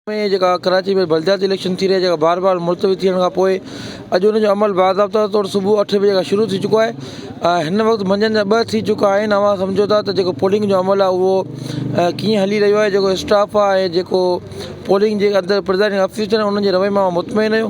۾ جيڪا ڪراچي ۾ بلدياتي اليڪشن ٿي رهي جيڪا بار بار ملتوي ٿيڻ کان پوء اڄ ان جو عمل باضابطا طور صبح اٺ بجي کان شروع ٿي چڪو آهي ۽ هن وقت منجهند جا ٻه ٿي چڪا آهن اوهان سمجهو ٿا ته جيڪو پولنگ جو عمل آهي اهو ڪيئن هلي رهيو آهي جيڪو اسٽاف آهي ۽ جيڪو پولنگ جي اندر پرزائيڊنگ آفيسر آهن انهن جي رويي مان اوهان مطمئن آهيو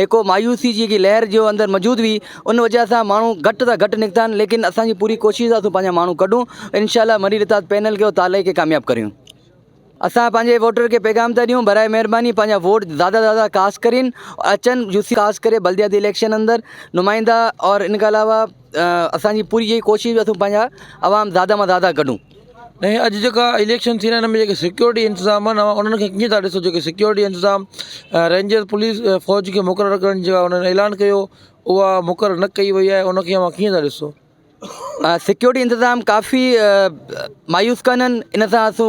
هڪ مايوسي جي لهر جو اندر موجود هئي ان وجه سان ماڻهو گهٽ سان گهٽ نڪتا آهن ليڪن اسان جي پوري ڪوشش آهي اسان پنهنجا ماڻهو ڪڍون انشاء الله مري رتاد پينل کي تالئي کي ڪامياب ڪريون اسان پنهنجي ووٽر کي پيغام ٿا ڏيون براء مهرباني پنهنجا ووٽ زياده زياده ڪاسٽ ڪرين اچن يوسي خاص ڪري بلدياتي اليڪشن اندر نمائندا اور ان کان علاوه اسان جي پوري اها ئي ڪوشش اٿو پنهنجا عوام زياده مان زياده ڪڍون ۽ اڄ جيڪا اليڪشن ٿي رهيا آهن ان ۾ جيڪي سيڪيورٽي انتظام آهن اوهان انهن کي ڪيئن ٿا ڏسو جيڪي سيڪيورٽي انتظام رينجر پوليس فوج کي مقرر ڪرڻ جي لاء انهن اعلان ڪيو اها مقرر نه ڪئي وئي آهي انکي اوهان ڪيئن ٿا ڏسو سيڪيورٽي انتظام ڪافي مايوس ڪن ان سان اسو